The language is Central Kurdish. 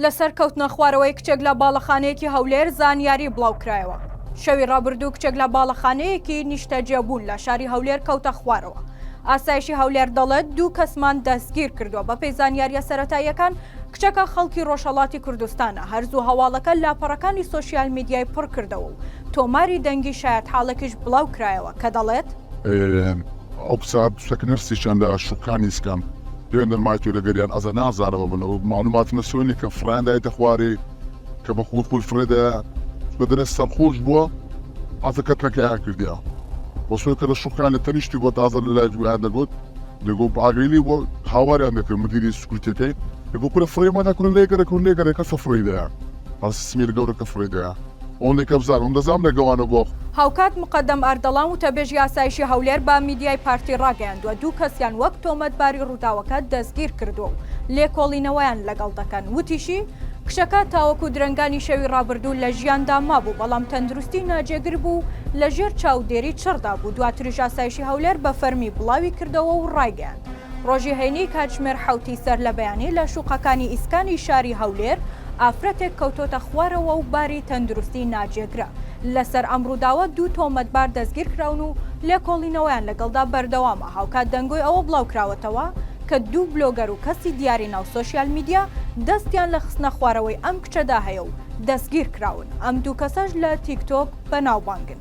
لەسەر کەوتنە خوارەوەی کچێک لە باڵەخانەیەکی هەولێر زانیاری بڵاوکرایەوە شەوی ڕابردوو کچێک لە باڵەخانەیەکی نیشتەجێبوون لە شاری هەولێر کەوتە خوارەوە ئاسایشی هەولێر دەڵێت دوو کەسمان دەستگیر کردووە بە پێی زانیاریە سەتاییەکان کچەکە خەڵکی ڕۆژهەڵاتی کوردستانە، هەر زوو هەواڵەکە لاپەڕەکانی سۆشیال میدیای پڕ کردەوە و تۆماری دەنگی شایەتحاڵێکیش بڵاو کرایەوە کە دەڵێت. ئەو کچە کچەکە نەرسیشان لە شوقانی سکان پێندەر مایتۆ لەگەریان ئەزە نازانەوە بن ئەو مالومات نەسۆنی کە فڕیان دایتە خوارێ کە بە خۆی خۆی فڕێ دایە چونکە دەرێ سەرخۆش بووە ئەزە کەتنەکەیان کردیە وە سۆی کە لە شوقانی تەنیشتی بۆ تازە لە لایڤ ویان دەگوت دەگۆ باگەیلی بۆ هاواریان دەکرد مدیری سکوتەکەی دەگۆ کورە فڕێ مادە کورە لێگەرە کورد لێگەرە کەسە فڕی دەیە هەڵسی سمیر گەورە کە فڕی دەیە ئەوەندە کە بزانم ئەم دەزانم لە گەوانە بۆ هاوکات مقەدەم ئەردەڵان وتەبێژی ئاسایشی هەولێر بە میدیای پارتی ڕاگەیاندووە دوو کەسیان وەک تۆمەتباری ڕووداوەکە دەستگیرکردووە و لێکۆڵینەوەیان لەگەڵ دەکەن وتیشی، کچەکە تاوەکو درەنگانی شەوی ڕابردوو لە ژیاندا مابوو، بەڵام تەندروستی ناجێگر بوو و لەژێر چاودێری چڕدا بوو، دواتریش ئاسایشی هەولێر بە فەرمی بڵاوی کردەوە و ڕایگەیاند، ڕۆژی هەینی کاتژمێر حەوتی سەرلەبەیانی لە شوقەکانی ئیسکانی شاری هەولێر ئافرەتێک کەوتۆتە خوارەوە و باری تەندروستی ناجێگرە، لەسەر ئەم ڕووداوە دوو تۆمەتبار دەستگیرکراون و لێکۆڵینەوەیان لەگەڵدا بەردەوامە، هاوکات دەنگۆی ئەوە بڵاوکراوەتەوە، کە دوو بلۆگەر و کەسی دیاری ناو سۆشیال میدیا دەستیان لە خستنە خوارەوەی ئەم کچەدا هەیە و دەستگیرکراون، ئەم دوو کەسەش لە تیکتۆک بەناوبانگن.